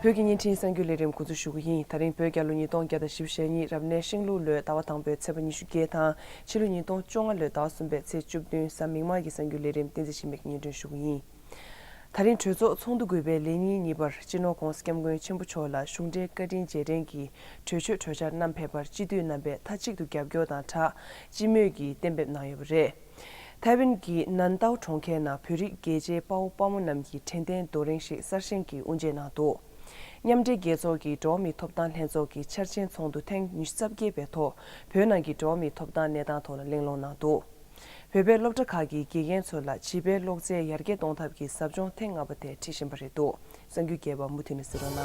བོད་ཀྱི་བརྙན་འཕྲིན་གསར་འགྱུར་ལས་རིམ་འགོ་འཛུགས་ཞུ་གི་ཡིན་ད་རིང་བོད་རྒྱ་ལོ་ཉིས་སྟོང་བརྒྱ་དང་ཞེ་བཞི་ཞེ་གཉིས་རབ་གནས་ཤིང་ལུག་ལོའི་ཟླ་བ་དང་པོའི་ཚེས་པ་ཉི་ཤུ་བརྒྱད་དང་ཕྱི་ལོ་ཉིས་སྟོང་བཅོ་ལྔ་ལོའི་ཟླ་བ་གསུམ་པའི་ཚེས་བཅུ་བདུན་གཟའ་མིག་དམར་གྱི་གསར་འགྱུར་ལས་རིམ་བསྟན་རྩིས་ཞིབ་མེད་ཀྱི་བརྙན་འཕྲིན་ཞུ་གི་ཡིན། ད་རིང་གྲོས་ཚོགས་ཚོགས་འདུ་དགུ་པའི་ལས་ཉིན་གཉིས་པར་སྤྱི་ནོར ྋགོང་ས ྋསྐྱབས་མགོན་ཆེན་པོ་མཆོག་ལ་གཞུང་འབྲེལ་བཀའ་དྲིན་རྗེས་དྲན་གྱི་གྲོས་ཆོད་གྲོས་འཆར་རྣམས་ཕེབས་པར་སྤྱི་འཐུས་རྣམ་པས་མཐའ་གཅིག་ཏུ་རྒྱབ་སྐྱོར་དང་དྲག་སྤྱི་མོས་ཀྱིས་གཏན་འབེབས་གནང་ཡོད་པ་རེད། ཐའེ་ཝན་གྱི་ནན་ཏའོ་གྲོང་ཁྱེར་ན་བོད་རིགས་རྒྱལ་གཅེས་དཔའ་བོ་དཔའ་མོ་རྣམས་ཀྱིས་དྲན་རྟེན་རྡོ་རིང་ཞིག་གསར་བཞེངས་ཀྱིས་དབུ་འབྱེད་གནང་འདུག་མཉམ་འབྲེལ་རྒྱལ་ཚོགས་ཀྱི་འགྲོ་བ་མིའི་ཐོབ་ཐང་ལྷན་ཚོགས་ཀྱི་འཆར་ཅན་ཚོགས་འདུ་ཐེངས་ཉི་ཤུ་རྩ་བརྒྱད་པའི་ཐོག་བོད་ནང་གི་འགྲོ་བ་མིའི་ཐོབ་ཐང་གནས་སྟངས་ཐོག་ལ་གླེང་སློང་གནང་འདུག། བོད་པའི་སློབ་གྲྭ་ཁག་གི་དགེ་རྒན་ཚོ་ལ་བྱིས་པའི་ཀློག་རྩལ་ཡར་རྒྱས་གཏོང་ཐབས་ཀྱི་ཟབ་སྦྱོང་ཐེངས་ལྔ་པ་དེ་འཁྲིད་བཞིན་པ་རེད་འདུག་གསང་རྒྱུད་རྒྱལ་བ་མུ་དྷི་ནས་ཟེར་བ་ན།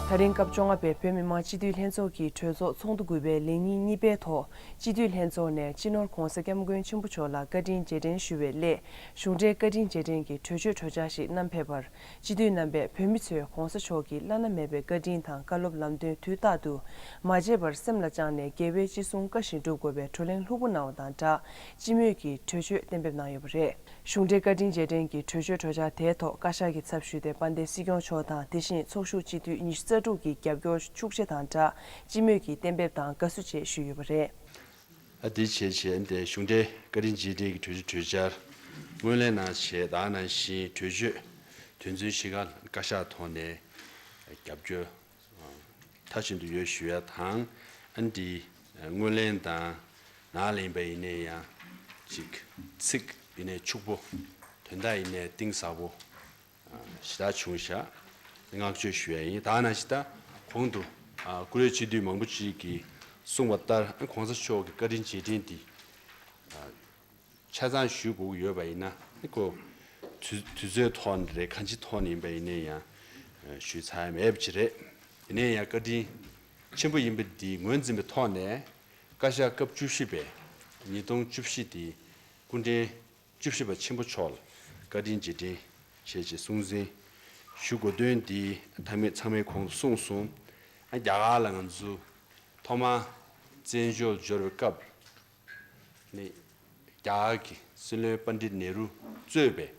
ད་རིང་སྐབས་བཅོ་ལྔ་པའི་བོད་མི་མང་སྤྱི་འཐུས་ལྷན་ཚོགས་ཀྱི་གྲོས་ཚོགས་ཚོགས་འདུ་དགུ་པའི་ལས་ཉིན་གཉིས་པའི་ཐོག་སྤྱི་འཐུས་ལྷན་ཚོགས་ནས་སྤྱི་ནོར ྋགོང་ས ྋསྐྱབས་མགོན་ཆེན་པོ་མཆོག་ལ་བཀའ་དྲིན་རྗེས་དྲན་ཞུ་བའི་སླད་གཞུང་འབྲེལ་བཀའ་དྲིན་རྗེས་དྲན་གྱི་གྲོས་ཆོད་གྲོས་འཆར་ཞིག་བསྣམས་ཕེབས་པར་སྤྱི་འཐུས་རྣམ་པས་བོད་མི་ཚོས་གོང་ས་མཆོག་གི་བླ་ན་མེད་པའི་བཀའ་དྲིན་དང་བཀའ་སློབ་ལམ་སྟོན་དུས་རྟག་ཏུ་མ་བརྗེད་པར་སེམས་ལ་བཅངས་ནས་རྒྱལ་བའི་ཅི་གསུང་བཀའ་བཞིན་སྒྲུབ་དགོས་པའི་བགྲོ་གླེང་ལྷུག་པོ་གནང་བ་དང་སྦྲགས་སྤྱི་མོས་ཀྱིས་གྲོས་ཆོད་གཏན་འབེབས་གནང་ཡོད་པ་རེད། གཞུང་འབྲེལ་བཀའ་དྲིན་རྗེས་དྲན་གྱི་གྲོས་ཆོད་གྲོས་འཆར་དེའི་ཐོག་བཀའ་ཤག་གི་ཚབ་ཞུས་ཏེ་དཔལ་ལྡན་སྲིད་སྐྱོང་མཆོག་དང་དེ་བཞིན་ཚོགས་ཞུགས་སྤྱི་འཐུས་ཉི་ཤུ་རྩ་དྲུག་གི་རྒྱབ་སྐྱོར་ཤུགས་ཆེ་དང་སྦྲགས་སྤྱི་མོས་ཀྱིས་གཏན་འབེབས་དང་དགའ་བསུ་བཅས་ཞུས་ཡོད་པ་རེད། འདི་བྱས་བྱས་ཏེ་གཞུང་འབྲེལ་བཀའ་དྲིན་རྗེས་དྲན་གྱི་གྲོས་ཆོད་གྲོས་འཆར་ངོས་ལེན་གནང་ཆེད་དག་གནང་བཞིན་གྲོས་ཆོད་དོན་ཚན་བཞི་ཀ་བཀའ་ཤག་ཐོག་ནས་རྒྱབ་སྐྱོར་མཐའ་ཕྱིན་དུ་ཡོད་ཞུ་ཡ་དང་ཨན་འདི་ངོས་ལེན་དང་ནང་ལེན་པ་ཡིན་ནས་ཡང་གཅིག་ཚིག་ཡིན་ནས་ཕྱུག་པོ་དོན་དག་ཡིན་ནས་གཏིང་ཟབ་པོ། ཞི་རྟ་ཆུང་ཞག་བསྔགས་བརྗོད་ཞུ་ཡ་ཡིན་ད་ན་ཞི་རྟ་གོང་དུ་ཀུ་རེ་སྤྱི་འཐུས་མང་པོ་ཞིག་གིས་གསུངས་པ་ལྟར་གོང་ས་མཆོག་གི་བཀའ་དྲིན་རྗེས་དྲིན་འདི་ཆ་ཚང་ཞུས་དགོས་ཀྱི་ཡོད་པ་ཡིན་ན་ཁོ་དུས་ཚོད་ཐོག་ནས་རེད་གང་ཅི་ཐོག་ནས་ཡིན་པ་ཡིན་ན་ཡང་ཞུས་ཚར་མེད་པ་ཅི་རེད་དེ་ནས་ཡང་བཀའ་དྲིན་ཆེན་པོ་ཡིན་པ་འདི་ངོས་འཛིན་པའི་ཐོག་ནས་བཀའ་ཤག་སྐབས་བཅུ་བཞི་པས་ཉིས་སྟོང་བཅུ་བཞི་འདི་སྐུ་འཕྲེང་བཅུ་བཞི་པ་ཆེན་པོ་མཆོག་ལ་བཀའ་དྲིན་རྗེས་དྲན་བྱེད་ཅེས་གསུང་གཟིན་ཞུ་དགོས་དོན་འདི་ཐ་མི་ཚང་མའི་གོང་དུ་གསུངས་སོང། རྒྱ་གར་ལ་ང་ཚོས་ཐོག་མ་བཙན་བྱོལ་འབྱོར་བའི་སྐབས་ནས་རྒྱ་གར་གྱི་སྲིད་བློན་པ་འདྲིད་ནེ་རུ་གཙོས་པའི་རྒྱ་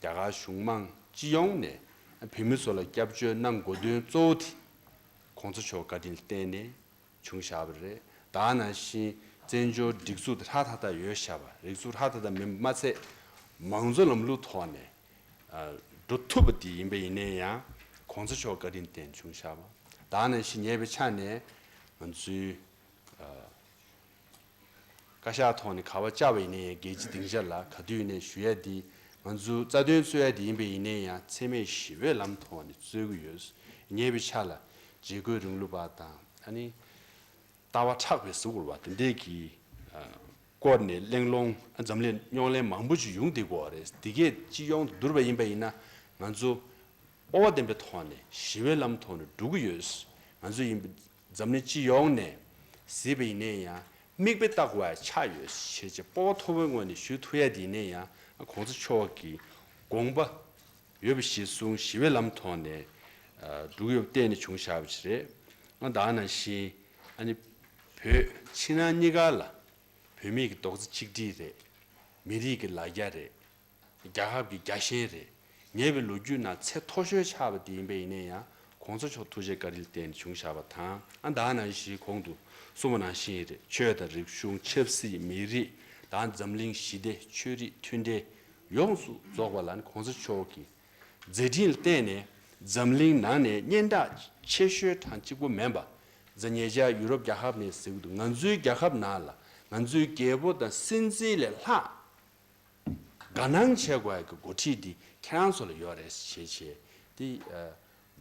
གར་གཞུང་མང་སྤྱི་ཡོངས་ནས་བོད་མི་ཚོ་ལ་སྐྱབས་བཅོལ་གནང་དགོས་དོན་གཙོ་བོ་དེ ྋགོང་ས་མཆོག་བཀའ་དྲིན་བརྟན་ནས་བྱུང་བཞག་པ་རེད་ད་ནང་བཞིན་བཙན་བྱོལ་སྒྲིག་འཛུགས་དེ་ཧྲག་ཐག་ཐག་ཡོད་བཞག་པ་རིག་གཟུགས་ཧྲག་ཐག་ཐག་མིན་པ་མ་ཚད་མང་གཙོ་ལམ་ལུགས་ཐོག་ནས་འགྲོ་ཐུབ་པ་དེ་ཡིན་པ་ཡིན་ནའི་ཡང་གོང་ས་མཆོག་བཀའ་དྲིན་བརྟེན་བྱུང་བཞག་པ་ད་ནང་བཞིན་ཉེ་བའི་ཆ་ནས་ང་ཚོའི། བཀའ་ཤག་ཐོག་ནས་ག་བ་བཅའ་བ་ཡིན་ན་ཡང་རྒྱལ་སྤྱི་སྡིངས་ཆ་ལ་ག་དུས་ཡིན་ན་ཞུ་ཡ་འདི་ང་ཚོའི་རྩ་དོན་རྩོད་ཡ་འདི་ཡིན་པས་ཡིན་ན་ཡང་འཚེ་མེད་ཞི་བའི་ལམ་ཐོག་ནས་རྩོད་གི་ཡོད་ངེས་པའི་ཆ་ལ་བྱེས་འཁོད་རིང་ལུགས་པ་དང་ཨ་ནི་ལྟ་བ་ཕྲག་པའི་གཟུགས་བོར་བ་དེ་འདས་ཀྱི་སྐོར་ནས་གླེང་སློང་འཛམ་གླིང་རྙོག་གླེང་མང་པོ་ཅིག་ཡོང་སྡིག་པོ་རེད་འདི་གས་སྤྱི་ཡོངས་དུ་བསྡུར་བ་ཡིན་པས་ཡིན་ན་ང་ཚོ་སྤོ་བ་ལྡན་པའི་ཐོག་ནས་ཞི་བའི་ལམ་ཐོག་ནས་འགྲོ་གི་ཡོད་ང་ཚོ་ཡིན་པ་འཛམ་གླིང་སྤྱི་ཡོངས་ནས་གཟིགས་པ་ཡིན་ན་ཡང་མིག་དཔེ་བལྟ་དགོས་པ་ཆགས་ཡོད་ཞེས་ཀྱི་སྤོ་བོ་མཐོ་བོའི་ངོས་ནས་ཞུ་ཐུབ་ཡ་དེ་ཡིན་ན་ཡང་གོང་ས་མཆོག་གི་དགོངས་པ་ཡོད་པ་ཞིག་གསུང་ཞི་བའི་ལམ་ཐོག་ནས་འགྲུག་ཡོད་པ་གཏན་ནས་བྱུང་ཞག་པ་ཞིག་རེད་ང་དང་ནང་བཞིན་ཨ་ནེ་བོད་ཕྱི་ནང་གཉིས་ཀ་ལ་བོད་མིག་གི་རྡོག་རྩ་གཅིག་སྒྲིལ་རེད་མི་རིགས་ཀྱི་ལ་རྒྱ་རེད། རྒྱ་ཁབ་ཀྱི་རྒྱ་ཞེན་རེད། ཉེ་བའི་ལོ་རྒྱུས་ནང་ཚད་མཐོ་ཤོས་ཆགས་པ་དེ་ཡིན་པས་ཡིན་ན་ཡང་གོང་ས་མཆོག་ཐུགས་རྗེ་བཀའ་དྲིན་བརྟེན་ནས་བྱུང་བཞག་པ་དང་ཨ་མདའ་ནང་བཞིའི་གོང་དུ་སོང་བ་ནང་བཞིན་རེད། ཆོས་དང་རིག་གཞུང་ཆབ་སྲིད་མི་རིགས་དང་འཛམ་གླིང་ཞི་བདེ་ཆོས་རིག་མཐུན་འབྲེལ་ཡོངས་སུ་རྫོགས་པ་ལ་གོང་ས་མཆོག་གི་མཛད་འཕྲིན་ལ་བརྟེན་ནས་འཛམ་གླིང་ནང་ནས་སྙན་གྲགས་ཆེ་ཤོས་གྲངས་གཅིག་པོ་མེན་པ་ཛ་ཉེ་ཅར་ཡུ་རོབ་རྒྱ་ཁབ་ནས་ཟེར་གི་འདུག་ང་ཚོའི་རྒྱ་ཁབ་ནང་ལ་ང་ཚོའི་རྒྱལ་པོ་དང་སྲིད་འཛིན་ལས་ལྷག་དགའ་སྣང་བྱེད་དགོས་ཀྱི་འགོ་ཁྲིད་འདི་ཁྱེད་རང་ཚོ་ལ་ཡོད་རེད་ཞེས་བྱས། དེ་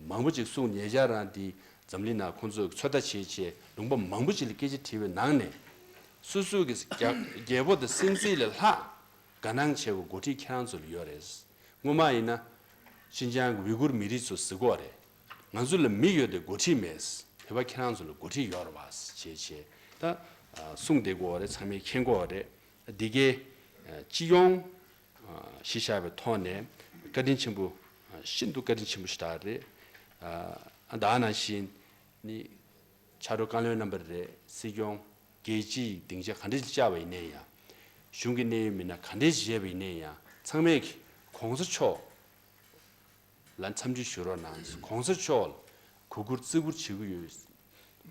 མང་པོ་ཅིག་གསུངས་ཉེ་བཞག་རང་འདི་འཛམ་གླིང་ནང་ཁོང་ཚོས་ཚོད་ལྟ་བྱེད་ཆེད་ལུང་པ་མང་པོ་ཅིག་ལ་སྐད་ཆ་དྲིས་པའི་ནང་ནས། སུ་སུ་གིས་རྒྱལ་པོ་དང་སྲིད་འཛིན་ལས་ལྷག་དགའ་སྣང་བྱེད་དགོས་འགོ་ཁྲིད་ཁྱེད་རང་ཚོ་ལ་ཡོད་རེད། སྔོན་མ་ཡིན་ན། ཤིན་ཅང་གི་ཝི་ཀུར་མི་རིགས་ཚོ་གཟིགས་འགོ་རེད། ང་ཚོ་ལ་མི་ཡོད་དེ་འགོ་ཁྲིད་མེད། བོད་པ་ཁྱེད་རང་ཚོ་ལ་འགོ་ཁྲིད་ཡོད་རེད་བ་ཞེས་བྱས། ད་གསུངས་དེ་འགོ་རེད་ཚང་མས་མཁྱེན་འགོ་རེད། སྡེ་དགེ། སྤྱི་ཡོངས། ཞེས་བྱ་བའི་ཐོག་ནས་བཀའ་དྲིན་ཆེན་པོ། ཤིན་ཏུ་བཀའ་དྲིན་ཆེན་པོ་ཞེས་དག་རེད། ཨ་འདའ་ནང་བཞིན། ནི། ཕྱག་རོགས་བཀའ་བློན་རྣམ་པར་རེ། སྲིད་སྐྱོང། རྒྱལ་སྤྱི་ཡི་སྡིངས་ཆ་ག་འདྲའི་བཅའ་བ་ཡིན་ནའི་ཡང། གཞུང་གི་གནད་ཡོད་མི་སྣ་ག་འདྲའི་བཞེས་པ་ཡིན་ནའི་ཡང་ཚང་མས། གོང་ས་མཆོག། ལ་འཚམས་འདྲི་ཞུ་རོགས་གནང། གོང་ས་མཆོག་ལ་གུས་བཀུར་བརྩི་བཀུར་བྱེད་ཀྱི་ཡོད།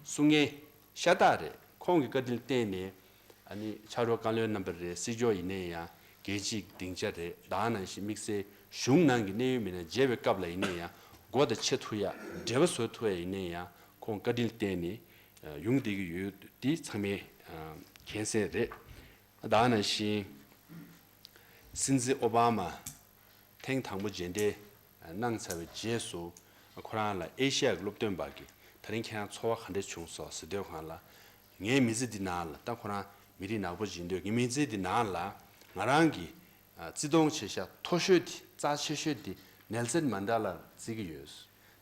གསུང་ངན། ཤ་སྟག་རེད། ཁོང་གི་བཀའ་དྲིན་བརྟེན་ནས། ཨ་ནི་ཕྱག་རོགས་བཀའ་བློན་རྣམ་པ་རེད་སྲིད་སྐྱོང་ཡིན་ནའི་ཡང་རྒྱལ་སྤྱིའི་སྡིངས་ཆ་རེད་བདག་ནང་བཞིན་དམིགས་བསལ་གཞུང་ནང་གི་གནད་ཡོད་མི་སྣ་མཇལ་བའི་སྐབས་ལ་ཡིན་ནའི་ཡང་སྒོ་དང་ཆེ་མཐུ་ཡག་འབྲེལ་བ་བཟོ་ཐུབ་ཡ་ཡིན་ནའི་ཡང་ཁོང་བཀའ་དྲིན་བརྟེན་ནས་ཡོང་བསྡད་ཀྱི་ཡོད་འདི་ཚང་མའི་མཁྱེན་གསལ་རེད་བདག་ནང་བཞིན། སྲིད་འཛིན་ཨོ་བྷ་མ། ཐེངས་དང་པོ་རྗེས་འབྲེལ་གནང་ཚར་བའི་རྗེས་སུ། ཁོ་རང་ལ་ཨེ་ཤི་ཡ་གི་སློབ་སྟོན་པ་གིས་ད་རིང་ཁྱེད་རང་ཚོར་བ་ག་འདྲ་བྱུང་སོགས་ཟེར་སྡོད་གང་ལ། ངའི་མི་ཚེ་འདི་ནང་ལ་ད་ཁོ་རང་མི་རིགས་ནག་པོ་བྱེད་འདོད་ངའི་མི་ཚེ་འདི་ནང་ལ་ང་རང་གིས་བརྩི་མཐོང་ཆེ་ཤ་མཐོ་ཤོས་དེ་རྩ་ཆེ་ཤོས་དེ་ནེལ་སན་མན་དྲ་ལ་བརྩི་གི་ཡོད།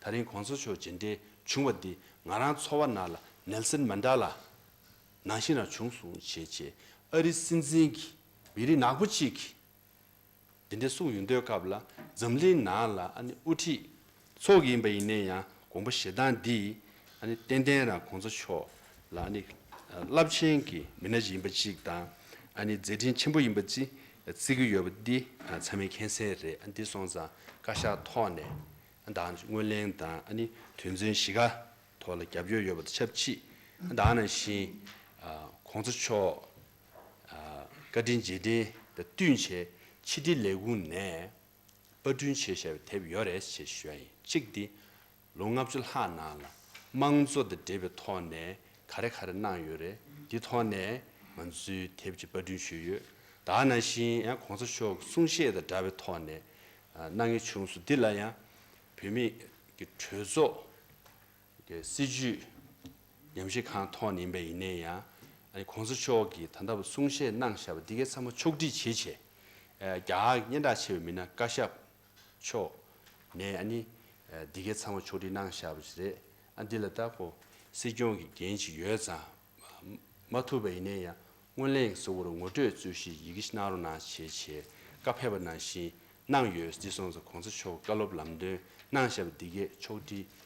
ད་རིང་གོང་ས་མཆོག་རྗེས་འབྲེལ་བྱུང་བ་འདིས་ང་རང་ཚོར་བ་ནང་ལ་ནེལ་སན་མན་དྲ་ལ་ནང་བཞིན་རང་བྱུང་སྲུང་བྱེད་ཆེད་ཨ་རི་སྲིད་འཛིན་གྱི་མི་རིགས་ནག་པོ་གཅིག་གི་དེ་འདྲའི་གསུངས་ཡོད་འདོད་སྐབས་ལ་འཛམ་གླིང་ནང་ལ་དབུ་ཁྲིད་ཚོགས་ཡིན་པ་ཡིན་ནའི་ཡང་དགོངས་པ་ཞེ་སྡང་འདི་ཏན་ཏན་རང་གོང་ས་མཆོག་ལ་རླབས་ཆེན་གྱི་མི་སྣ་ཞིག་ཡིན་པ་ཅིག་དང་མཛད་འཕྲིན་ཆེན་པོ་ཡིན་པ་ཅིག་བརྩི་གི་ཡོད་པ་འདི་ཚང་མའི་མཁྱེན་གསལ་རེད་འདི་སོང་ཙང་བཀའ་ཤག་ཐོག་ནས་དང་དངོས་གླེང་དང་དོན་ཚན་བཞི་ཀ་ཐོག་ལ་རྒྱབ་སྐྱོར་ཡོད་པ་དང་ཆབས་ཅིག་དང་ནང་བཞིན་གོང་ས་མཆོག་བཀའ་དྲིན་རྗེས་དྲན་དང་བསྟུན་ཆེད་ཕྱི་དྲིལ་ལས་ཁུངས་ནས་པར་སྐྲུན་བྱས་བཞག་པའི་དེབ་ཡོད་རེད་ཅེས་ཞུ་བ་ཡིན་གཅིག་འདི་ལོ་ལྔ་བཅུ་ལྷག་ནང་ལ་དམངས་གཙོ་དང་འབྲེལ་བའི་ཐོག་ནས་ག་རེ་ག་རེ་གནང་ཡོད་རེད་འདི་ཐོག་ནས་ང་ཚོས་དེབ་ཅིག་པར་སྐྲུན་ཞུས་ཡོད་ད་ནང་བཞིན་ཡང་གོང་ས་མཆོག་གི་གསུང་བཤད་དང་འདྲ་བའི་ཐོག་ནས་གནང་ཡོད་བྱུང་སོང་འདི་ལ་ཡང་བོད་མི་གྲོས་ཚོགས། སྲིད་ཇུས་ཉམས་ཞིབ་ཁང་ཐོག་ནས་ཡིན་པ་ཡིན་ནའི་ཡང། གོང་ས་མཆོག་གིས་ད་ལྟ་བུ་གསུང་བཤད་གནང་བཞག་པ་འདི་གའི་ཚང་མ་ཕྱོགས་སྒྲིག་བྱེད་ཆེད། རྒྱ་གར་གྱི་སྙན་གྲགས་ཆེ་བའི་མི་སྣ་བཀའ་ཤག་མཆོག་ནས་ནི། འདི་གའི་ཚང་མ་ཕྱོགས་སྒྲིག་གནང་བཞག་པ་ཞིག་རེད། ཨ་འདི་ལ་ད་གོ། སྲིད་སྐྱོང་གི་འགན་ཞིག་ཡོད་ཙང། མ་ཐུབ་པ་ཡིན་ནའི་ཡང་སྔོན་གླེང་གཟུ་བོར་ངོ་སྤྲོད་རྩོད་ཞིག་ཡི་གེ་ཞིག་གནང་རོགས་གནང་བྱེད་ཆེད་བཀའ་ཕེབས་པ་ནང་བཞིན་གནང་ཡོད་འདི་སོང་ཙང་གོང་ས་མཆོག་བཀའ་སློབ་ལམ་སྟོན་གནང་བཞག་པ་འདི་གའི་ཕྱོགས་སྒྲིག་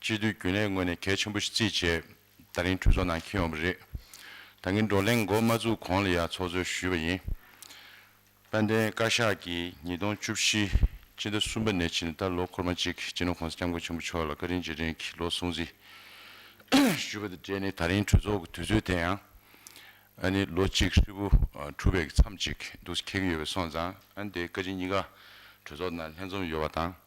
སྤྱི་འཐུས་རྒྱུན་ལས་ངོས་ནས་གལ་ཆེན་པོ་ཞིག་རྩིས་བྱེད་ད་རིང་གྲོས་ཚོགས་ནང་འཁྱེར་ཡོང་བ་རེད། ད་ངས་བགྲོ་གླེང་མགོ་མ་བཙུགས་གོང་ལ་ཡང་ཚོགས་གཙོས་ཞུས་པ་ཡིན། དཔལ་ལྡན་བཀའ་ཤག་གིས་ཉིས་སྟོང་བཅུ་བཞི་སྤྱི་ཟླ་གསུམ་པ་ནས་ཕྱི་ཟླ་ལོ་འཁོར་མ་གཅིག་སྤྱི་ནོར ྋགོང་ས ྋསྐྱབས་མགོན་ཆེན་པོ་མཆོག་ལ་བཀའ་དྲིན་རྗེས་དྲན་གྱི་ལོ་སྲུང་གཟིགས་ཞུས་པ་དང་འབྲེལ་ནས་ད་རིང་གྲོས་ཚོགས་ཀྱི་དུས་ཚོད་དེ་ཡང་ཨ་ནི་ལོ་གཅིག་ཧྲིལ་པོ་གྲུབ་པའི་མཚམས་ཅིག་འདུག་ཁེལ་གྱི་ཡོད་པས་སོང་ཙང་ཨ་ནི་དེའི་བཀའ་སྤྱི་གཉིས་ཀ་གྲོས་ཚོགས་ནང་ལྷན་འཛོམས་ཡོད་པ་དང།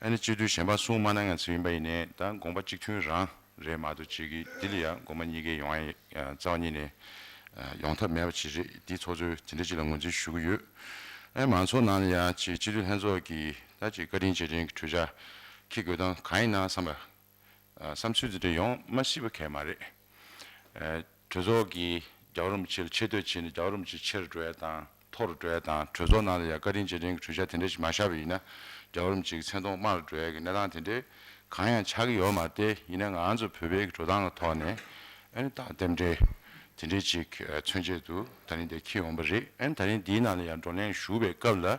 ཨ་ནི་སྤྱི་འཐུས་གཞན་པ་གསུང་མ་ན་ང་ཚོ་ཡིན་པ་ཡིན་ནས་ད་དགོངས་པ་གཅིག་མཐུན་རང་རེད་མ་གཏོགས་བྱེས་ཀྱི་དེ་ལ་ཡང་དགོངས་པ་གཉིས་ཀའི་ཡོང་ཨ་རྩ་བ་ཉིད་ནས་ཡོང་ཐབས་མེད་པ་ཅིག་རེད་དེ་ཚོགས་གཙོས་དེ་འདྲ་ཅིག་ལ་ངོས་འཛིན་ཞུ་གི་ཡོད་ཨ་མང་ཚོགས་ནང་ལ་ཡང་ཆེས་སྤྱི་འཐུས་ལྷན་ཚོགས་ཀྱིས་ད་ཅིག་བཀའ་དྲིན་རྗེས་དྲན་གྱི་གྲོས་འཆར་ཁྱི་དགོས་སྟངས་གང་ཡིན་ན་བསམ་པ། བསམ་ཚུལ་འདི་འདྲ་ཡོང་མ་སྲིད་པ་གལ་མ་རེད། གྲོས་ཚོགས་ཀྱིས་རྒྱ་བོད་རིན་པོ་ཆེ་ལ་ཆེ་བསྟོད་བྱས་ནས་རྒྱ་བོད་རིན་པོ་ཆེ་ཆེ་རུ་འགྲོ་ཡ་དང་མཐོ་རུ་འགྲོ་ཡ་དང་གྲོས་ཚོགས་ནང་ལ་ཡང་བཀའ་དྲིན་རྗེས་དྲན་གྱི་གྲོས་འཆར་དེ་འདྲ་ཞིག་མ་བཞག་པ་ཡིན་ན་རྒྱ་བོད་རིན་པོ་ཆེ་གི་མཚན་མཐོང་དམའ་རུ་འགྲོ་ཡ་གི་གནས་སྟངས་དེ་འདྲའི་གང་ཡང་ཆགས་ཀྱི་ཡོད་མ་བལྟས་ཡིན་ན་ང་ཚོ་བོད་པའི་གི་འགྲོ་སྟངས་ལ་ཐོག་ནས་ཨན་རྟགས་རྟེན་འབྲེལ་དེ་འདྲའི་ཅིག་མཚོན་ཆེད་དུ་ད་རིང་འདིར་ཁྱེད་ཡོང་པ་རེད་ཨན་ད་རིང་འདིའི་ནང་ལ་ཡང་བགྲོ་གླེང་ཞུ་བའི་སྐབས་ལ།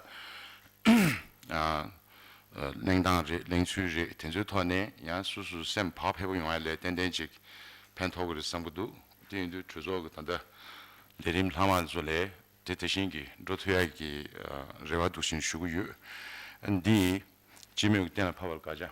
གླེང་སྟངས་རེད་གླེང་ཚུལ་རེད་དེ་ཚོའི་ཐོག་ནས་ཡང་སུ་སུ་སེམས་བག་ཕེབས་པོ་ཡོང་བ་ལས་ཏན་ཏན་ཅིག་ཕན་ཐོག་གི་རེད་བསམ་གི་འདུག་དེ་ཡིན་དུས་གྲོས་ཚོགས་ཀྱི་ད་ལྟ་ལས་རིམ་ལྷག་མ་ཚོ་ལས་དེ་དེ་བཞིན་གྱི་འགྲོ་ཐུ་ཡག་གི་རེ་བ་འདུག་བཞིན་ཞུ་གི་ཡོད་འདི་སྤྱི་མོས་ཀྱི་གཏན་ལ་ཕབ་པར་དགའ་བྱ།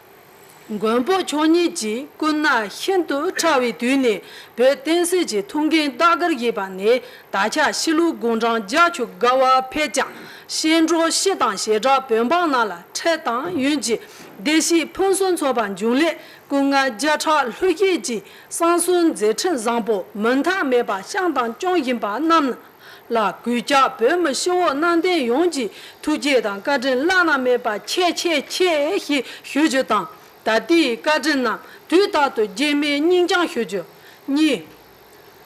མགོན་པོ་མཆོག་ཉིད་ཀྱིས་སྐུ་ན་ཤིན་ཏུ་ཕྲ་བའི་དུས་ནས་བོད་བསྟན་སྲིད་ཀྱི་ཐུགས་འགན་བདག་དགར་བཞེས་པ་ནས་ད་ཆ་གཤིས་ལུགས་དགུང་གྲངས་བརྒྱ་བཅུ་དགའ་བར་ཕེབས་ཀྱང་གཤེན་གྲོགས་བཞི་དང་ཞེ་དྲག་བོད་འབངས་རྣམས་ལ་ཁྲེལ་དང་ཡུན་གྱི་བདེ་སྐྱིད་ཕུན་སུམ་ཚོགས་པ་འབྱུང་སླད་སྐུ་ངལ་བརྒྱ་ཕྲག་ལྷོད་བསྐྱེད་ཀྱིས་གསང་གསུམ་མཛད་འཕྲིན་བཟང་པོ་མུ་མཐའ་མེད་པར་བཤམས་དང་སྐྱོང་བཞིན་པ་རྣམས་ལ། ལ་གུས་ཀྱ་བོད་མི་ཤི་འོག་གནང་བསྟན་ཡོངས་ཀྱི་ཐུགས་རྗེ་དང་བཀའ་དྲིན་བླ་ན་མེད་པ་ཆེ་ཆེ་ཆེ་ཞེས་ཞུ་རྒྱུ་དང་ད་ལྟའི་བཀའ་དྲིན་རྣམས་དུས་རྟག་ཏུ་རྗེས་མའི་སྙིང་བཅང་ཞུ་རྒྱུ། གཉིས།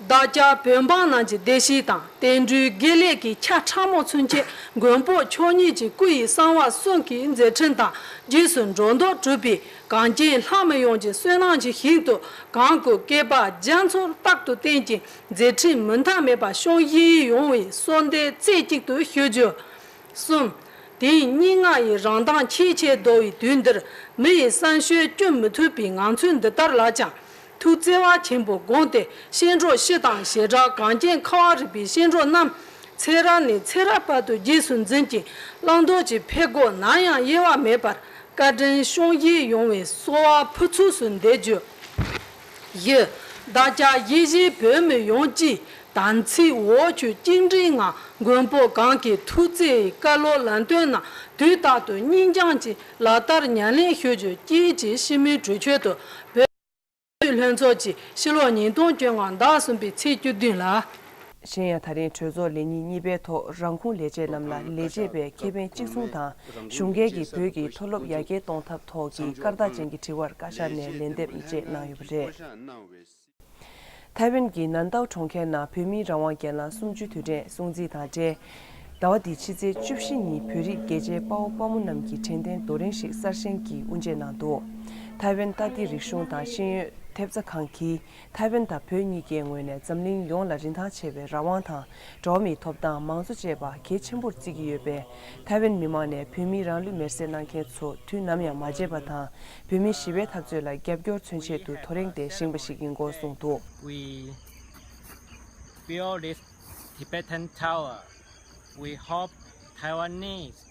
བདག་ཅག་བོད་འབངས་རྣམས་ཀྱི་བདེ་སྐྱིད་དང་བསྟན་འགྲོའི་དགེ་ལེགས་ཀྱི་ཆ་ཕྲ་མོ་ཚུན་ཆད་མགོན་པོ་མཆོག་ཉིད་ཀྱི་སྐུ་ཡི་གསང་བ་གསུང་གི་མཛད་འཕྲིན་དང་རྗེས་སུ་འགྲོ་ལྡོག་གྲུབ་པའི་གངས་ཅན་ལྷ་མི་ཡོངས་ཀྱི་བསོད་ནམས་ཀྱི་ཞིང་དུ་གང་སྐུ་སྐལ་པ་རྒྱ་མཚོར་རྟག་ཏུ་བརྟན་ཅིང། མཛད་འཕྲིན་མུ་མཐའ་མེད་པ་ཤོག་དབྱིན་ཡིག་ཡོང་བའི་གསོལ་འདེབས་རྩེ་གཅིག་ཏུ་ཞུ་རྒྱུ། གསུམ། དེ་ཡི་སྙན་ངག་ཡི་རང་མདངས་ཆེས་ཆེར་བརྡོལ་བའི་དུས་འདིར་མི་ཡི་བསམ་ཤོས་བསྐྱུར་མི་ཐུབ་པའི་ངང་ཚུལ་འདི་ལྟར་ལགས་ཀྱང། ཐུགས་བརྩེ་བ་ཆེན་པོས་དགོངས་ཏེ་གཤེན་གྲོགས་བཞི་དང་ཞེ་དྲག་གངས་རྒྱན་ཁ་བ་རི་པའི་གཤེན་གྲོགས་རྣམས། ཚེ་རབས་ནས་ཚེ་རབས་བར་དུ་རྗེས་སུ་འཛིན་ཅིང་བླང་དོར་གྱི་ཕད་སྒོ་ནམ་ཡང་དབྱེ་བ་མེད་པར་བཀའ་དྲིན་ཤོག་དབྱིངས་ཡོང་བའི་གསོལ་བ་ཕུར་ཚུགས་སུ་འདེབས་རྒྱུ། བཞི། བདག་ཅག་ཡེ་གཞི་བོད་མི་ཡོངས་ཀྱིས་དམ་ཚིག་འོག་ཆོས་དབྱིངས་རིགས་ལྔ་མགོན་པོ་གང་གི་ཐུགས་བརྩེའི་བཀའ་སློབ་ལམ་སྟོན་རྣམས་དུས་རྟག་ཏུ་སྙིང་བཅངས་ཀྱིས་ལག་བསྟར་ཉམས་ལེན་ཞུ་རྒྱུ་བཅས་ཀྱི་ཤིས་སྨོན་གྲོས་ཆོད་དུ་བོད་བརྒྱུད་ལྷན་ཚོགས་ཀྱི་ཕྱི་ལོ་ཉིས་སྟོང་བཅོ་ལྔ་ཟླ་གསུམ་པའི་ཚེས་བཅུ་བདུན་ལ། གཞན་ཡང་ད་རིང་གྲོས་ཚོགས་ལས་ཉིན་གཉིས་པའི་ཐོག་རང་ཁུངས་ལས་བྱེད་རྣམས་ལ་ལས་བྱེད་པའི་ཁེ་ཕན་གཅིག་མཚུངས་དང་གཞུང་སྒེར་གྱི་བོད་ཀྱི་མཐོ་སློབ་ཡར་རྒྱས་གཏོང་ཐབས་ཐོག་གི་སྐར་རྟགས་ཅན་གྱི་དྲི་བར་བཀའ་ཤག་ནས་ལན་འདེབས་བཅས་གནང་ཡོད་པ་རེད། ཐའེ་ཝན་གྱི་ནན་ཏའོ་གྲོང་ཁྱེར་ནང་བོད་མིའི་རང་དབང་རྒྱལ་ལམ་སུམ་བཅུའི་དུས་དྲན་སྲུང་བརྩི་དང་འབྲེལ། ཟླ་བ་འདིའི་ཕྱི་ཚེས་བཅུ་བཞི་ཉིན་བོད་རིགས་རྒྱལ་གཅེས་དཔའ་བོ་དཔའ་མོ་རྣམས་ཀྱིས་དྲན་རྟེན་རྡོ་རིང་ཞིག་གསར་བཞེངས་ཀྱིས་དབུ་འབྱེད་གནང་འདུག་ཐའེ་ཝན་ཏཱ་ཏི་རིག་གཞུང་དང་ཤེས་ཡོན་ཐེབས་རྩ་ཁང་གིས་ཐའེ་ཝན་དང་བོད་གཉིས་ཀའི་ངོས་ནས་འཛམ་གླིང་ཡོངས་ལ་རིན་ཐང་ཆེ་བའི་རང་དབང་དང་འགྲོ་བ་མིའི་ཐོབ་ཐང་མང་གཙོ་བཅས་པ་གལ་ཆེན་པོར་བརྩི་གི་ཡོད་པས་ཐའེ་ཝན་མི་མང་ནས་བོད་མིའི་རང་ལུས་མེར་བསྲེགས་གནང་མཁན་ཚོ་དུས་ནམ་ཡང་མ་བརྗེད་པ་དང་བོད་མིའི་ཞི་བའི་འཐབ་རྩོད་ལ་རྒྱབ་སྐྱོར་མཚོན་ཆེད་དུ་ཐོ་རེངས་ཏེ་བཞེངས་པ་ཞིག་ཡིན་སྐོར་གསུངས་འདུག། We build this Tibetan tower. We hope Taiwanese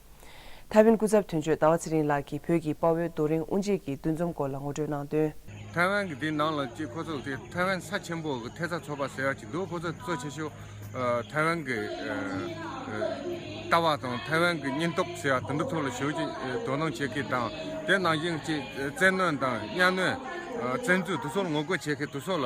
ཐའེ་ཝན་སྐུ་ཚབ་དོན་གཅོད་ཟླ་བ་ཚེ་རིང་ལགས་ཀྱིས་བོད་ཀྱི་དཔའ་བོའི་རྡོ་རིང་དབུ་འབྱེད་ཀྱི་འདུ་འཛོམས་སྐོར་ལ་ངོ་སྤྲོད་གནང་དོན། ཐའེ་ཝན་གྱི་དེའི་ནང་ལ་གཅིག་ཁོ་ཚོ་དེ་ཐའེ་ཝན་ས་ཆེན་པོ་གི་ཐེ་ཚ་ཚོགས་པ་ཟེར་བ་གཅིག་འདུག་ཁོ་ཚོ་གཙོ་ཆེ་ཤོས་ཐའེ་ཝན་གྱི་ལྟ་བ་དང་ཐའེ་ཝན་གྱི་སྙིང་སྟོབས་ཟེར་བ་དེ་འདྲ་ཐོག་ལ་ཞོགས་ཀྱིས་དོ་སྣང་བྱེད་མཁན་དང་དེ་ནང་བཞིན་གཅིག་བཙན་གནོན་དང་གཉའ་གནོན་བཙན་འཛུལ་དེ་ཚོར་ངོ་རྒོལ་བྱེད་མཁན་དེ་ཚོ་ལ།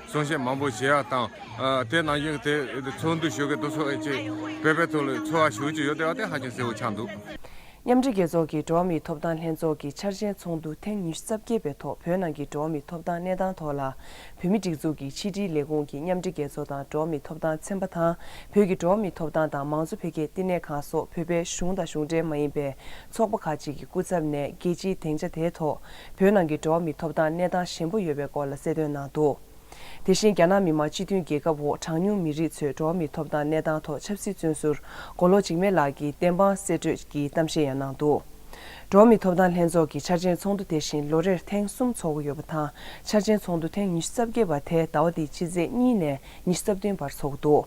གསུང་བཤད་མང་པོ་བྱས་པ་དང། དེའི་ནང་བཞིན་དེ་ཚོགས་འདུ་ཞུ་མཁན་དུ་ཚོགས་ཡོད་ཅེས་བོད་པའི་ཚོགས་ལས་ཚོགས་བ་ཞུ་རྒྱུ་ཡོད་ཟེར་བ་དེ་ཧ་ཅང་གསལ་བོ་ཆགས་འདུག། མཉམ་འབྲེལ་རྒྱལ་ཚོགས་ཀྱི་འགྲོ་བ་མིའི་ཐོབ་ཐང་ལྷན་ཚོགས་ཀྱི་འཆར་ཅན་ཚོགས་འདུ་ཐེངས་ཉི་ཤུ་རྩ་བརྒྱད་པའི་ཐོག་བོད་ནང་གི་འགྲོ་བ་མིའི་ཐོབ་ཐང་གནས་སྟངས་ཐོག་ལ་བོད་མི་སྒྲིག་འཛུགས་ཀྱི་ཕྱི་དྲིལ་ལས་ཁུངས་ཀྱི་མཉམ་འབྲེལ་རྒྱལ་ཚོགས་དང་འགྲོ་བ་མིའི་ཐོབ་ཐང་ཚན་པ་དང་བོད་ཀྱི་འགྲོ་བ་མིའི་ཐོབ་ཐང་དང་མང་གཙོ་འཕེལ་རྒྱས་བསྟི་གནས་ཁང་སོགས་བོད་པའི་གཞུང་དང་གཞུང་འབྲེལ་མ་ཡིན་པའི་ཚོགས་པ་ཁག་ཅིག་གི་སྐུ་ཚབ་ནས་རྒྱལ་སྤྱིའི་དེང་ཆ་དེའི་ཐོག་བོད་ནང་གི་འགྲོ་བ་མི་ཐོབ་ཐང་གནས་སྟངས་ཞན་པོ་ཡོད་པའི་སྐོར་ལ་གསལ་སྟོན་གནང་འདུག་དེ་བཞིན་རྒྱ་ནག་མི་དམངས་སྤྱི་མཐུན་རྒྱལ་ཁབ་འོག་གྲངས་ཉུང་མི་རིགས་ཚོའི་འགྲོ་བ་མི་ཐོབ་ཐང་གནས་སྟངས་ཐོག་ཆབ་སྲིད་བཙོན་ཟུར་མགོ་ལོག་འཇིགས་མེད་ལགས་ཀྱིས་བདེན་དཔང་གསེད་བཀྲོལ་གྱི་གཏམ་བཤད་ཡང་གནང་འདུག་འགྲོ་བ་མི་ཐོབ་ཐང་ལྷན་ཚོགས་ཀྱི་འཆར་ཅན་ཚོགས་འདུ་དེ་བཞིན་ལོ་རེར་ཐེངས་གསུམ་ཚོགས་འགོ་ཡོད་པ་དང་འཆར་ཅན་ཚོགས་འདུ་ཐེངས་ཉི་ཤུ་རྩ་བརྒྱད་པ་དེ་ཟླ་བ་འདིའི་ཕྱི་ཚེས་གཉིས་ནས་ཉི་ཤུ་རྩ་བདུན་བར་ཚོགས་འདུག།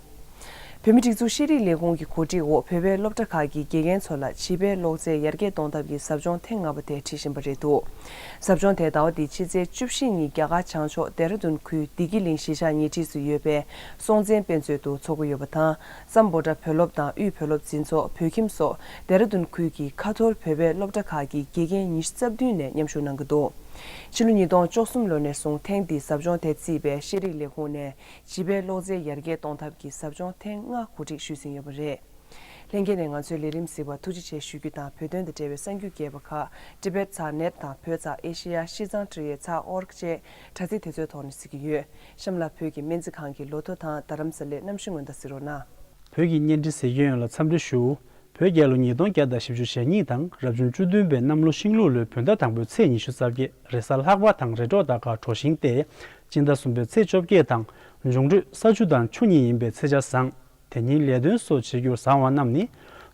བོད་མི་སྒྲིག་འཛུགས་ཤེས་རིག་ལས་ཁུངས་ཀྱི་གོ་སྒྲིག་འོག་བོད་པའི་སློབ་གྲྭ་ཁག་གི་དགེ་རྒན་ཚོ་ལ་བྱིས་པའི་ཀློག་རྩལ་ཡར་རྒྱས་གཏོང་ཐབས་ཀྱི་ཟབ་སྦྱོང་ཐེངས་ལྔ་པ་དེ་ཁྲིད་བཞིན་པ་རེད་འདུག་ཟབ་སྦྱོང་དེ་ཟླ་བ་འདིའི་ཕྱི་ཚེས་བཅུ་བཞི་ཉིན་རྒྱ་གར་བྱང་ཕྱོགས་དེ་ར་རྡུན་ཁུལ་བདེ་སྐྱིད་གླིང་གཞིས་ཆགས་ཉེ་འཁྲིས་སུ་ཡོད་པའི་སྲོང་བཙན་དཔེ་མཛོད་དུ་འཚོགས་ཀྱི་ཡོད་པ་དང་རྩམ་བོ་བྲ་བོད་སློབ་དང་དབུས་བོད་སློབ་འཛིན་ཚོགས་བོད་ཁྱིམ་སོགས་དེ་ར་རྡུན་ཁུལ་གྱི་ཁ་ཐོར་བོད་པའི་སློབ་གྲྭ་ཁག་གི་དགེ་རྒན་ཉི་ཤུ་རྩ་བདུན་ནས་མཉམ་ཞུགས་གནང་གི་འདུག་ཕྱི་ལོ་ཉིས་སྟོང་བཅོ་གསུམ་ལོ་ནས་བཟུང་ཐེངས་འདིའི་ཟབ་སྦྱོང་དེ་རྩིས་པའི་ཤེས་རིག་ལས་ཁུངས་ནས་བྱིས་པའི་གློག་རྫས་ཡར་རྒྱས་གཏོང་ཐབས་ཀྱི་ཟབ་སྦྱོང་ཐེངས་ལྔ་གོ་སྒྲིག་ཞུས་ཟིན་ཡོད་པ་རེད། ལྷན་རྒྱས་ནས་ང་ཚོའི་ལས་རིམ་གཟིགས་པར་ཐུགས་རྗེ་ཆེ་ཞུ་རྒྱུ་དང་བོད་དོན་དང་འབྲེལ་བའི་གསར་འགྱུར་རྒྱས་པ་ཁག Tibet ཚགས་ནེད་དང་བོད་ཚགས Asia ཤིས་ཙང་ཀྲི་ཡེ་ཚགས org བཅས་དྲ་ཚིགས་དེ་ཚོའི་ཐོག་ནས་གཟིགས་ཀྱི་ཡོད། གཤམ་ལ་བོད་ཀྱི་སྨན་རྩིས་ཁང་གི་ལོ་ཐོ་དང་རྡ་རམ་ས་ལའི་གནམ་གཤིས་སྔོན་བརྡ་གཟིགས་རོགས་གནང། བོད་ཀྱི་གཉེན་སྒྲིག་ཟེར་མཁན་ཡོན་ལ་འཚམས་འདྲི་ཞུ། བོད་རྒྱལ་ལོ་ཉིས་སྟོང་བརྒྱ་དང་བཞི་བཅུ་ཞེ་གཉིས་དང་རབ་བྱུང་བཅུ་བདུན་པའི་གནམ་ལོ་ཤིང་ལུག་ལོའི་བོད་ཟླ་དང་པོའི་ཚེས་ཉི་ཤུ་རྩ་བརྒྱད། རེས་གཟའ་ལྷག་པ་དང་རེས་འགྲོགས་ཟླ་དཀར་གྲོ་བཞིན་ཏེ། སྤྱི་ཟླ་གསུམ་པའི་ཚེས་བཅོ་བརྒྱད་དང། འབྱུང་འགྲོས་ས་བཅུ་དང་ཆུ་གཉིས་ཡིན་པའི་ཚེས་ཆ་བཟང། དེ་ཉིན་ལས་དོན་སོགས་བྱེད་རྒྱུར་བཟང་བ་རྣམས་ནི།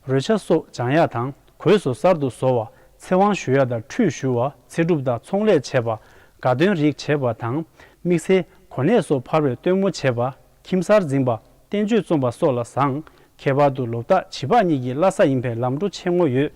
རོལ་ཆ་སོགས་སྦྱང་ཡག་དང་གོས་སོགས་གསར་དུ་བཟོ་བ། ཚེ་དབང་ཞུ་ཡག་དང་ཁྲུས་ཞུ་བ་ཚེ་སྒྲུབ་དང་ཚོང་ལས་བྱེད་པ། དགའ་སྟོན་རིགས་བྱེད་པ་དང། དམིགས་བསལ་གོ་གནས་སོགས་འཕར་བའི་སྟོན་མོ་བྱེད་པ། ཁྱིམ་གསར་འཛིན་པ། བསྟན་བཅོས་རྩོམ་པ་སོགས་ལ་བཟང། ཁྱད་པར་དུ་ལོ་རྟགས་བྱིས་པ་གཉིས་ཀྱི་བླ་ས་ཡིན་པས་ལམ་འགྲོ་ཆེ་ངོ་ཡོད།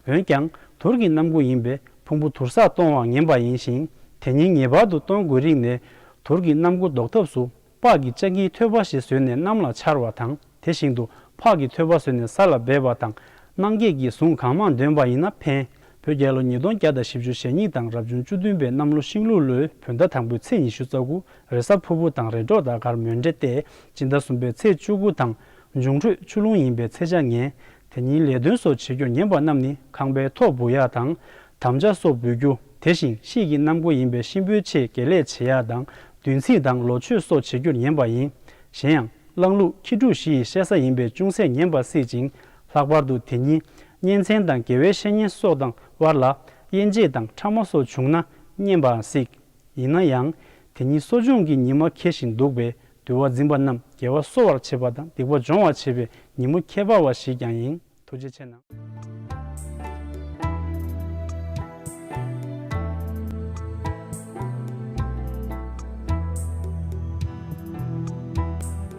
འོན་ཀྱང། དུར་གྱི་རྣམ་ཀུན་ཡིན་པས་ཕུང་པོ་དུར་སར་གཏོང་བར་ངན་པ་ཡིན་ཞིང། དེ་ཉིད་ངེས་པར་དུ་གཏོང་དགོས་རིགས་ནས། དུར་གྱི་རྣམ་ཀུན་ཟློག་ཐབས་སུ། ལྤགས་ཀྱི་ལྕགས་ཀྱི་ཐོད་པ་ཞིག་བཟོས་ནས་གནམ་ལ་འཕྱར་བ་དང་དེ་བཞིན་དུ་ཕག་གི་ཐོད་པ་བཟོས་ནས་ས་ལ་སྦས་པ་དང། སྣང་བརྒྱད་ཀྱི་གཟུངས་གང་མང་འདོན་པ་ཡིན་ན་ཕན། བོད་རྒྱལ་ལོ་ཉིས་སྟོང་བརྒྱ་དང་བཞི་བཅུ་ཞེ་གཉིས་དང་རབ་བྱུང་བཅུ་བདུན་པའི་གནམ་ལོ་ཤིང་ལུག་ལོའི་བོད་ཟླ་དང་པོའི་ཚེས་ཉི་ཤུ་རྩ་དགུ་རེས་གཟའ་ཕུར་བུ་དང་རེས་འགྲོགས་ཟླ་སྐར་མོན་འདྲེ་སྟེ་སྦྱིན་ཟླ་གསུམ་པའི་ཚེས་བཅུ་དགུ་དང་འབྱུང་ཁྲོད་ཆུ་ཀླུང་ཡིན་པའི་ཚེ་བྱ་ངན། དེ་ཉིན་ལས་དོན་སོགས་བྱེད་རྒྱུར་ཉན་པ་རྣམས་ནི་ཁང་པའི་ཐོག་འབུ་ཡག་དང། དམ་བཅའ་སོགས་འབུལ་རྒྱུ་དེ་བཞིན་གཤེགས་ཀྱི་གནམ་སྒོ་ཡིན་པས་གཤིན་པོའི་ཆེད་དགེ་ལས་བྱེད་ཡག་དང་བདུན་ཚིགས་དང་ལོ་མཆོད་སོགས་བྱེད་རྒྱུར་ཉན་པ་ཡིན། གཞན་ཡང་གླང་ལུག་ཁྱི་ཕྲུག་བཞི་ཡི་བཤད་ས་ཡིན་པས་ཅུང་ཟད་ཉན་པ་སྲིད་ཅིང་ལྷག་པར་དུ་དེ་ཉིད་གཉེན་ཚན་དང་དགེ་བའི་བཤེས་གཉེན་སོགས་དང་དབར་ལ་དབྱེ་འབྱེད་དང་ཕྲ་མོ་སོགས་བྱུང་ན་བསྙེན་པའང་སྲིད། ཡིན་ན་ཡང་དེ་ཉིད་གསོ་སྦྱོང་གི་ཉི་མ་ཁེལ་བཞིན་འདུག་པས་འདུལ་བ་འཛིན་པ་རྣམས་དགེ་བ་གསོ་བར་བྱེད་པ་དང་སྡིག་པ་སྦྱོང་བར་བྱེད་པའི་ཉིན་མོ་ཁྱད་པར་བ་ཞིག་ཀྱང་ཡིན། ཐུགས་རྗེ་ཆེ་གནང།